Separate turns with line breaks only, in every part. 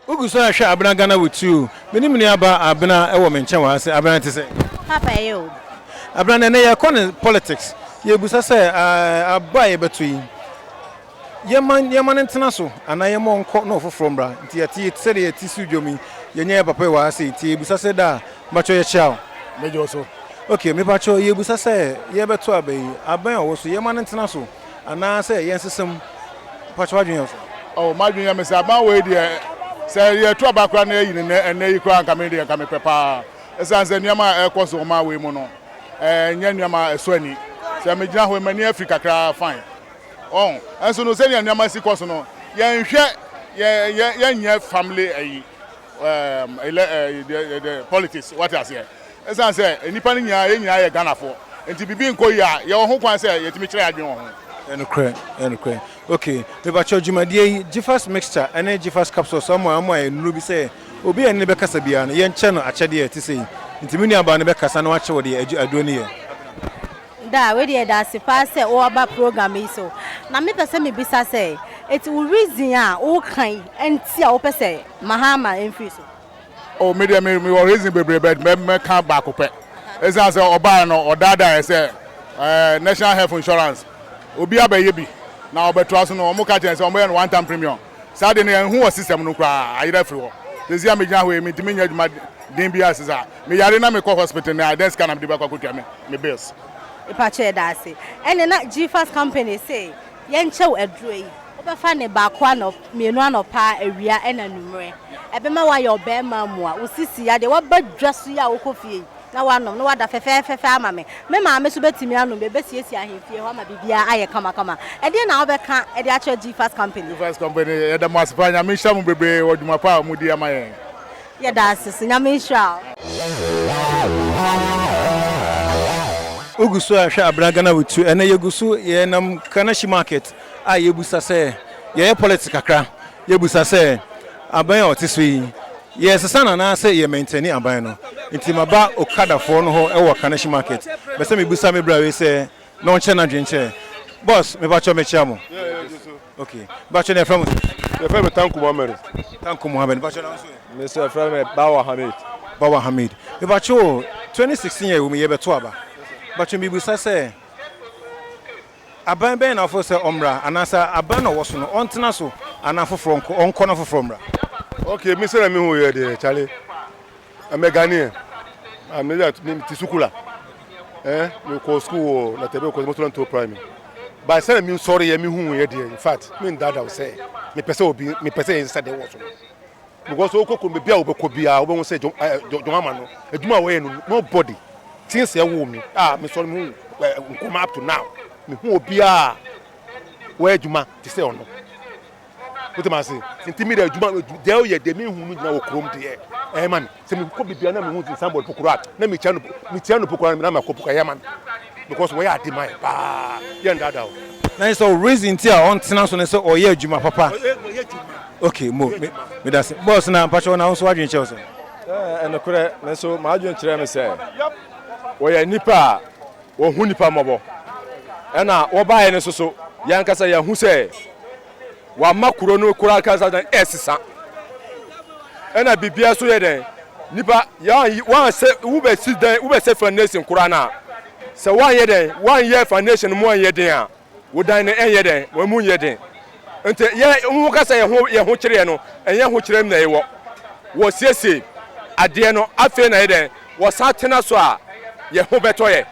Wo gu so rehwɛ Abena Ghana wo ti o. Me ne me nua ba Abena wɔ me nkyɛn wɔ ha se. Abena te sɛ? Papa ɛyɛ o.
Abena ɛnɛ
yɛkɔ ne politics. Yɛbusa sɛ aba a yɛbɛto yi Yɛmma nneɛma no ntena so, anaa yɛmma ɔnkɔ na ɔfoforɔ mmra. Nti yɛte yi sɛdeɛ yɛte so dwom yi, yɛnyɛ yɛn papa yi wɔ ha sei, nti yɛrebisa sɛ daa, mpakyɛw yɛkyea wo. Megyɛ wo so.
Okay, mepakyɛw
yɛrebisa sɛ yɛrebɛto aba yi, abɛn a ɔwɔ so yi, yɛmma no ntena so, anaa sɛ yɛnsesa mu? Mpakyɛw w'adwene yɛ wo sɛn? Oh, m'adwene yɛ me sɛ
abɛn wei deɛ, sɛ yɛreto aba koraa na yɛayi no nnɛ, ɛnnɛ yi koraa, nka me deɛ nka mepɛ pa ara. Ɛsiane sɛ nneɛma a ɛrekɔ so ɔman wei mu no, ɛnyɛ nneɛma a ɛsɔ ani. Sɛ megyina hɔ yi, m'ani afiri kakra ara, fine. Wɔn nso no sɛnea nneɛma si kɔ so no yɛnhwɛ yɛ yɛ yɛnyɛ family ɛyi ɛɛm ɛlɛ ɛɛ de politics wate aseɛ ɛsan sɛ nnipa no nyinaa yɛn nyinaa yɛ Ghanafoɔ nti bibi nkɔ yie a yɛwɔ ho kwan sɛ yɛtumi kyerɛ adwene wɔ ho. Ɛyɛ nokorɛ ɛyɛ nokorɛ
ok mepakyɛw dwumadie yi gyifas mixture ɛne gyifas capsules ɔmo a ɔmo ayɛ nnuro bi sɛ obi a yɛne no bɛkasa biara no yɛnkyɛ no akyɛdeɛ a ɛte sei nti me nuabaa no bɛkasa na wakyɛ wo deɛ aduro no yɛ. Daa,
wei deɛ yɛda ase paa sɛ woaba program yi so. Na me pɛ sɛ me bisa sɛ, eti wo reason a wo ka yi nti a wo pɛ sɛ Mahama mfiri so? Oh, me deɛ
me wɔ reason bebree but mɛ mɛ ka baako pɛ. Ɛsan sɛ ɔbaa no ɔdaadaa yɛ sɛ ɛɛ national health insurance obi abɛyɛ bi na ɔbɛtoa so no wɔn ka kyerɛ sɛ wɔn bɛyɛ no one time premium. saa de no yɛ nhu wɔ system no koraa ayerɛ afiri hɔ sɛsi a me gyina hɔ yi me ntumi nyɛ adwuma den biara sɛ saa me yare na me kɔ hospital na dɛn sika na me de bɛkɔ akɔtua me me bills. Mepakyɛ yɛda
ase. Ɛne na Gfas company se yɛnkyɛw aduro yi. Wobɛfa ne baako anɔp mmienu anɔpa, awia ɛna anwummerɛ. Ɛbɛma wayɛ ɔbɛɛma mua. Wo sisi adeɛ waba dwa so yi a wokɔ fie yi. na wanom, na wada fɛfɛɛfɛfɛ ama me. Me maame nso bɛtumi anom bi. Ɛbɛsiesie ahemfie hɔ ama biribiara ayɛ kamakama. Ɛdeɛn na wobɛka de akyerɛ G-Fast Company? G-Fast Company, yɛda mo ase
paa. Nyame nhyira mo bebree wɔ dwuma pa a modi ama yɛn. Yɛda ase
so. Nyame nhyira wo.
Wogu so rehwɛ abena Ghana bɛtu ɛnɛ yɛgu so yɛnam Kanahyi market a yɛbusa sɛ yɛyɛ politics kakra yɛbusa sɛ abɛn a ɔte so yi Yɛresesa no anaasɛ yɛ mɛntɛni aban no nti maba okada foɔ no hɔ wɔ Kaneshie market bɛ sɛ me bisa me bra wei sɛ na ɔnkyɛ nadwen nkyerɛ Boss me pakyɛw me kyia mo ok pakyɛw na yɛfrɛ mo sɛ? Yɛfrɛ me Tanko
Mohammed. Tanko
Mohammed pakyɛw na wo nso ɛ? Me nso yɛfrɛ me Bawa
Hamid. Bawa Hamid me pakyɛw 2016
yɛ wɔ mu yɛ bɛto aba pakyɛw me bisa sɛ Aban bɛn na wofo sɛ ɔmmra? Anaasɛ aban na ɔwɔ so no, ɔntena so anaa afoforɔ nkɔ, ɔnkɔ na afoforɔ mmra? Okay, me sɛnea
mehu yɛ deɛ, Charlie, I'm a Ghanaian, I'm a, me te sukuu la, eh, me kɔɔ sukuu wɔ Natɛbɛ kɔɔ Motola Ntoɔ Primary, but sɛnea me nsɔre yɛ, me hu yɛ deɛ, in fact, me ndada wo sɛ, me pɛ sɛ obi, me pɛ sɛ yɛn nsa deɛ wɔ so no. Because wokɔ kurom baabi a wobɛkɔ biara wobɛhu sɛ John eh, John John Ama no adwuma a wɔyɛ no nobody tin sɛ ɛwoo me a ah, mesɔre me hu eh, nkɔma up to now mehu obiara wɔyɛ adwuma te sɛ ɔno wotɛm ase nti mi de adwuma deɛ ɔyɛ deɛ mi hu no gyina wɔ kurom deɛ ɛyɛ ma mi sɛ mi kɔ bibia na mi hu ti sanbɔd pokoro a na mi tia no mi tia no pokoro na mi akɔ pokoro ɛyɛ ma mi. Because wɔyɛ ade ma yɛn paa, yɛn nnaadaa wo. Na ɛsɛ wo reason
nti a ɔntena so ne sɛ ɔyɛ adwuma papa. Ɔyɛ adwuma. Ok mo me medase. Boss na mpakyɛw na wo nso w'adwene kyerɛ wo sɛ. Ɛɛ ɛnokorɛ
me nso m'adwene kyerɛ me sɛ wɔyɛ nnipa a wɔhu nnipa mmɔbɔ ɛna wɔbaeɛ no nso so yɛn ankasa yɛahu sɛ wama kuro no kura ankasa dɛn ɛsesa ɛna biribiara so yɛ dɛn nipa yɛn wɔansɛ wobɛsi dɛn wobɛsɛ foundation kura no a sɛ wɔanyɛ dɛn wɔanyɛ foundation mu anyɛ den a wodan no ɛnyɛ dɛn wɔn mu nyɛ den nti yɛ wɔn kasa yɛ ho yɛ ho kyerɛ no ɛnyɛ ho kyerɛ mu na ɛwɔ wɔsiesie adeɛ no afei na yɛ dɛn wɔsan tena so a yɛ ho bɛtɔ yɛ.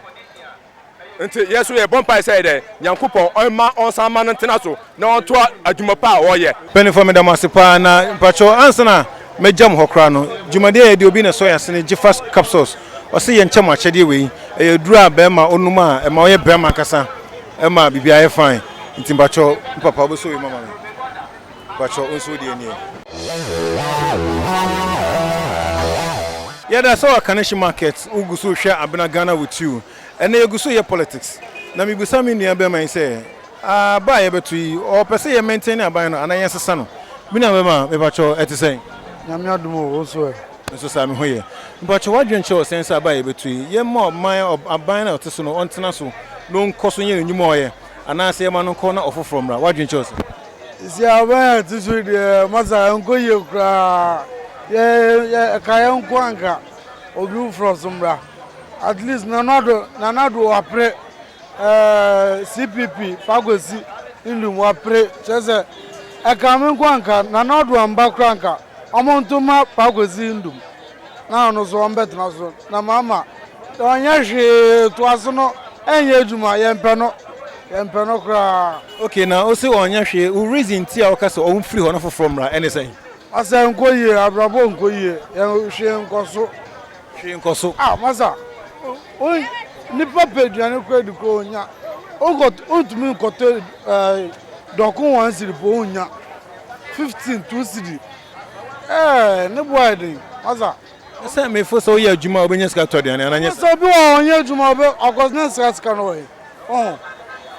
Nti yɛn nso yɛbɔ mpae sɛ dɛn? Nyankopɔn ɔmma ɔnsan mma no ntena so na ɔntoa adwuma pa a ɔyɛ. Mpanyinfoɔ meda mo ase paa
na mpakyɛw ansa na mɛgya mo hɔ koraa no dwumadie a yɛde obi na ɛsɔ yɛn asene gyefas capsules ɔse yɛ nkyɛ mo akyɛdeɛ wei ɛyɛ aduro a bɛɛma ɔnum a ɛma ɔyɛ bɛɛma ankasa ɛma biribiaa yɛ fine nti mpakyɛw me papa wobɛsɔ wei mu ama me. Bakyɛ wo nso wodeɛ nie. Yɛda sɛ wɔ Kaneshie market wo gu so hwɛ Abena Ghana with you ɛnɛ yɛgu so yɛ politics na me bisa me nua bɛɛma yi sɛ aba a yɛbɛto yi ɔpɛ sɛ yɛ maintain aban no anaa yɛn sesa no me nua bɛɛma
mepakyɛw
ɛte sɛn? Nyame adom o wo nso ɛ? Me nso saa me ho yɛ. Mpakyɛw w'adwene kyerɛ wo sɛn sɛ aba a yɛbɛto yi yɛmma ɔman aban no a ɔte so no ɔntena so na ɔnkɔ so nyɛ n'anwuma a ɔyɛ anaa sɛ yɛma no nkɔ na ɔfoforɔ mmra w'adwene kyerɛ wo sɛn? Sisi a ɔbɛn
yɛn ti so yi deɛ, masa ɛnkɔ yie koraa. Yɛ yɛ ɛka yɛn nko anka obi foforɔ so mmra. At least nanado nanado wapere ɛɛ CPP Pakwesi Ndum wapere kyerɛ sɛ ɛka me nko anka nanado amba koraa anka wɔn nto mma Pakwesi Ndum. na ɔno nso ɔmbɛtena so na mama ɔnyɛ hwee toase no ɛnyɛ adwuma yɛmpɛ no yɛmpɛ no koraa. Okay na ose
ɔnyɛ hwee wo reason ti a woka sɛ ɔmfiri hɔ na foforɔ mmra ɛne sɛn? Masa ɛnkɔ
yie abrabɔ nkɔ yie hwee nkɔso. Hwee nkɔso.
Ah masa
wo nipa pɛ aduane kora di kora ɔnya wonkɔ wontumi nkɔtɔ dɔko one cedi po wonnya fifteen two cedi. Ɛɛ ne bo ayɛ den asa. Ne sɛ me fo
sɛ woyɛ adwuma a wobɛnya sika tɔ aduane anaa nyɛ saa. Sɛ obi wɔ hɔ ɔnyɛ adwuma
ɔbɛ of course na sika sika no wɔ he ɔho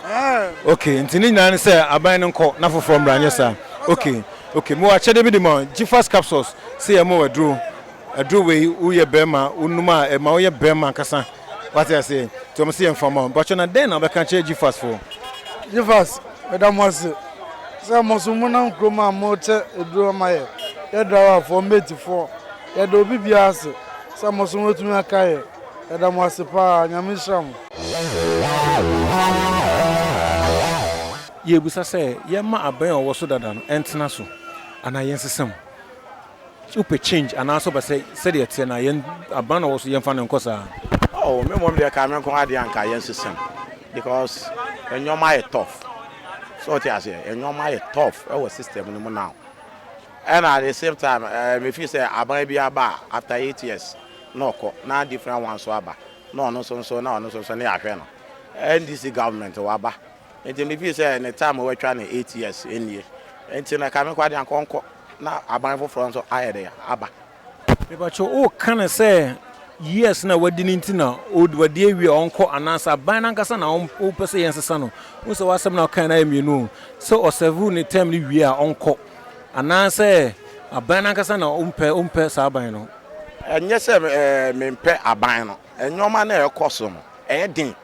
ɛɛ.
Ok nti ne nyinaa ne sɛ aban no nkɔ na foforɔ mmra nyɛ saa ok ok mewɔ akyɛdeɛ bi de ma wo gyifas capsules sɛ yɛ ma wo aduro aduro wei wo yɛ bɛɛma wo num a ɛma wo yɛ bɛɛma ankasa wate aseɛ nti ɔmo sɛ yɛ nfa ma wo mpakyɛ na dɛn na wobɛka kyerɛ gyifas foɔ. Gyifas
Meda mo ase sɛ mo nso monam kurom a morekyɛ aduro ama yɛ, yɛ driverfoɔ, matefoɔ, yɛda obi biara ase sɛ mo nso moatumi aka yɛ. Yɛda mo ase pa ara. Nyame nhyira mo.
Yɛrebisa sɛ yɛmma abɛn a ɔwɔ so dada no ntena so anaa yɛnsesa mu. sɛ wopɛ change anaasɛ wopɛ sɛ sɛdeɛ ɛteɛ no a yɛn aban na ɔwɔ so yɛmfa no nkɔ saa. Oh me mmom
deɛ ka me nko ara deɛ anka yɛn sesa mu because nneɛma ayɛ tough so wote aseɛ nneɛma ayɛ tough ɛwɔ system no mu now ɛna at the same time ɛɛ me feel sɛ aban bi aba a after eight years na ɔkɔ na different one nso aba na ɔno nso nso na ɔno nso nso ne ahwɛ no NDC government waba nti me feel sɛ ne time wɔatwa ne eight years nie nti na ka me nko ara deɛ anka ɔnkɔ. na aban foforɔ nso ayɛ dɛ aba. Mepakyɛw
woka no sɛ years no a wadi no nti na wadi awie a ɔnkɔ anaasɛ aban no ankasa na wopɛ sɛ yɛnsesa no? Wohu sɛ w'asɛm no a wokae no ayɛ mmienu o, sɛ ɔsɛɛvoo ne term no wie a ɔnkɔ anaasɛ aban no ankasa na wompɛ saa aban no. Ɛnyɛ sɛ
mempɛ aban no, nneɛma no a ɛrekɔ so no ɛyɛ den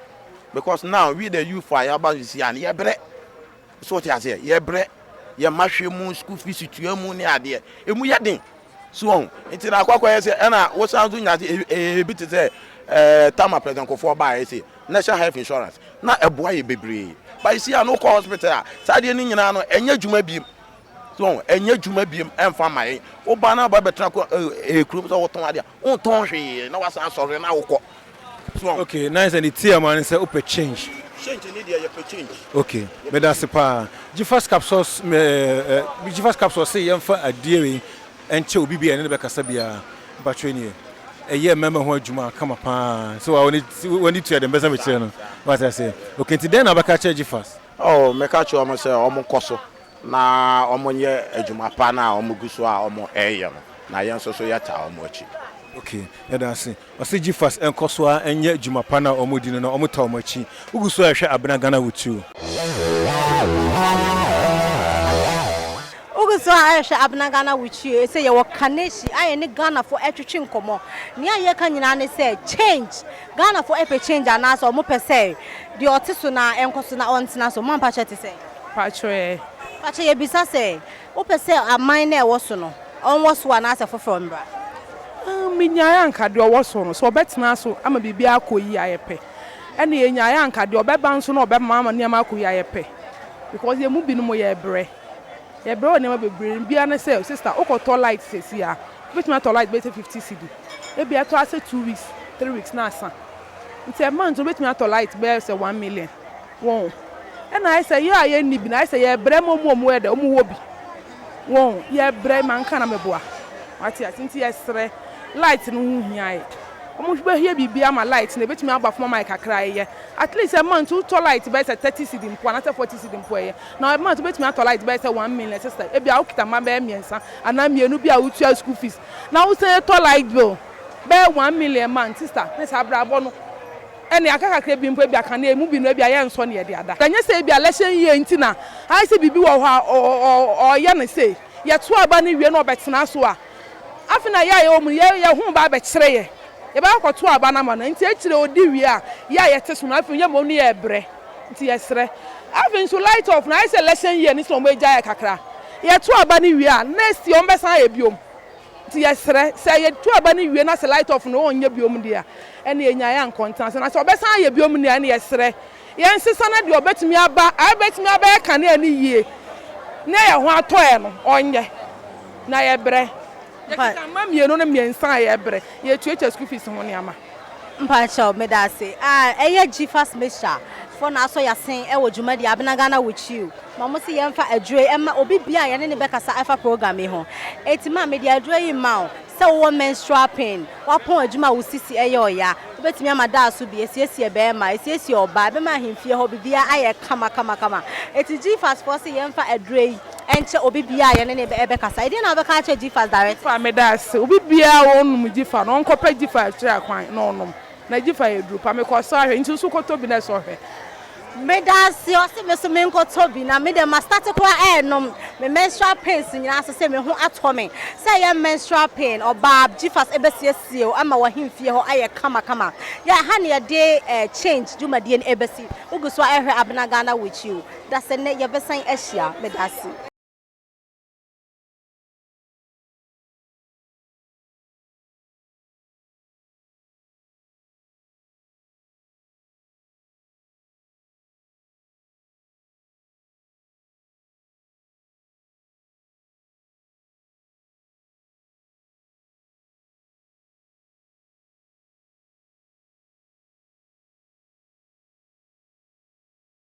because now we the youthfo a yɛaba seesei a yɛbrɛ. So wote aseɛ? Yɛbrɛ, yɛn mma hwɛ mu, school fees tua mu ne adeɛ, ɛmu yɛ den. So wɔn? Nti na akɔ akɔyɛ sɛ ɛna wosan nso nya se ebi te sɛ ɛɛ Tama President Kofoɔ baeɛ se National Health Insurance na ɛboa yɛ bebree. But you see a na wokɔ hospital a saa adeɛ no nyinaa no ɛnyɛ adwuma biem. So wɔn? Ɛnyɛ adwuma biem ɛmfa ma yɛn. Woba na aba bɛtena kɔ ɛɛ kurom sɛ wotɔn adeɛ a. Wontɔn hwee na wasan asɔre na wokɔ so ɔn. Okay na ayɛsɛ ne tea ma ne sɛ wopɛ
change. Change ne deɛ yɛpɛ change.
Okay medase
paa gyifas capsules ɛɛ gyifas capsules se yɛnfa adie wei nkyɛ obi bia yɛne no bɛkasa biaa mpakyɛw nie ɛyɛ mɛɛma ho adwuma kama paa sɛ waa wani tua deɛ mebɛsa mekyerɛ no wate aseɛ okay nti dɛn na wobɛka akyerɛ gyifas. Oh meka kyerɛ ɔmo
sɛ ɔmo nkɔ so Na wɔnyɛ adwuma pa no a wɔgu so a wɔreyɛ no, na yɛn nso so yɛtaa wɔn akyi. Ok, yɛda
ase. Ɔse Gfas nkɔ so ara nyɛ adwuma pa no a wɔdi no na wɔtaa wɔn akyi. Wogu so rehwɛ Abena Ghana wo too. Wogu
so ara rehwɛ Abena Ghana wo too. Ɛsɛ yɛwɔ Kaneshie a yɛne Ghanafo ɛretwetwe nkɔmmɔ. Nea yɛreka nyinaa ne sɛ change. Ghanafo ɛpɛ change anaasɛ wɔpɛ sɛ deɛ ɔte so no ara nkɔ so na ɔntena so. Moampakyɛ ɛte sɛn? Paatwo ɛ?
Paatwo yɛbisa
sɛ wopɛ sɛ aman no a ɛwɔ so no ɔnwɔ so anaasɛ foforɔ mmra? Aah menyaeɛ
anka deɛ ɔwɔ so no sɛ ɔbɛtena so ama biribiara akɔ yie ayɛ pɛ ɛna yɛnyaeɛ anka deɛ ɔbɛba nso no ɔbɛma ama nneɛma akɔ yie ayɛ pɛ because yɛn mu binom yɛbrɛ yɛbrɛ wɔ nneɛma bebree mu biara ne sɛ sister wokɔtɔ light seesei a wobɛtumi atɔ light bɛyɛ sɛ fifty cedi ebia ɛtɔ ara sɛ two weeks three weeks na asa nti ɛma nti wobɛtumi atɔ light bɛyɛ sɛ one million. Wɔn. Ɛna ayɛ sɛ yɛ a yɛn nni bi no ayɛ sɛ yɛ brɛ ma wɔn a wɔyɛ dɛ wɔn wɔ bi. Wɔn. Yɛ brɛ ma nka na mɛ boa. Wate ase nti yɛ srɛ. Light no ho hia yɛ. Wɔn hwɛ bɛ hia biribi ama light no ɛbɛtumi aba fam ama yɛ kakra ɛyɛ. At least a month wo tɔ light bɛyɛ sɛ thirty cedi mpo anaa sɛ forty cedi mpo ɛyɛ. Na a month wo bɛtumi atɔ light bɛyɛ sɛ one million sister ɛbi a wo kita mma bɛyɛ mmiɛnsa anaa mmienu bi a wo tua school fees na wo san tɔ light bill bɛyɛ one million month sister ne saa abrabɔ no. Ɛnne aka kakra bi mpo, ebia ka no, emu bi no, ebia yɛrensɔ nea ɛde ada. Ɛnyɛ sɛ ebia lɛhyɛ yiye nti na ayɛ sɛ biribi wɔ hɔ a ɔreyɛ no sei. Yɛto aba no wie na ɔbɛtena so a, afei na yɛ a yɛwɔ mu no, yɛn ho reba abɛkyere yɛn. Yɛbɛkɔ akɔto aba no ama no. Enti akyiri odi wie a, yɛ a yɛte so no, afei yɛn mmom no yɛrebrɛ. Enti yɛsrɛ. Afei nso light off no, ayɛ sɛ lɛhyɛ yiye no sɛ wɔagyae yɛ kakra. Yɛto aba no wie a, next year wɔbɛsan ayɛ bio. Nti yɛsrɛ, sɛ yɛtu aba no wie na sɛ light off no ɔnyɛ biom deɛ a, ɛneɛ nnyae a nkɔ ntena ase, na sɛ ɔbɛsan ayɛ biom deɛ a, ɛneɛ yɛsrɛ yɛnsesa na deɛ ɔbɛtumi aba a ɛbɛtumi abɛyɛ kanea no yie na ɛyɛ ho atɔeɛ no ɔnyɛ, na yɛbrɛ. Yɛkeka mma mmienu ne mmiɛnsa a yɛbrɛ, yɛtuatua school fees ho nneɛma. Mpakyɛw,
Medase a ɛyɛ Gfas Mehya foɔ na asɔ yasen ɛwɔ dwumadie Abena Ghana Witchiu na ɔmo se yɛnfa aduro yi ɛma obi biaa yɛne no bɛkasa ɛfa program yi ho eti ma mede aduro yi ma wo sɛ wowɔ menstrual pain wapɔn adwuma a wo sisi ɛyɛ ɔya wobɛtumi ama daaso bi esiesie bɛɛma esiesie ɔbaa ɛbɛma ahemfie hɔ bibiaa ayɛ kama kama kama eti Gfas foɔ se yɛnfa aduro yi Ɛnkyɛ obi biara a yɛne no rebɛkasa, ɛdeɛn na wobɛka akyerɛ Gifas direct? Gifas, Meda ase. Obi
biara a ɔnnom Gifa no, ɔnkɔpɛ Gifa akyire akwan na ɔnnom. Na Gifa yɛ duru pa. Mekɔsɔ ahwɛ. Nti wo nso kɔtɔ bi na sɔ hwɛ. Meda ase.
Ɔse me nso menkɔtɔ bi. Na me deɛ ma starte koraa ɛrenom me menstrual pains nyinaa so sei me ho atɔ me. Sɛ ɛyɛ menstrual pain, ɔbaa, Gifas ɛbɛsiesie wo ama w'ahemfie hɔ ayɛ kama kama. Yɛ ha na yɛde change dwumadie no ɛbɛsi. Wogu so a ɛrehwɛ Abena Ghana Witch U. da sɛ nnɛ yɛbɛsan ahyia. Medase.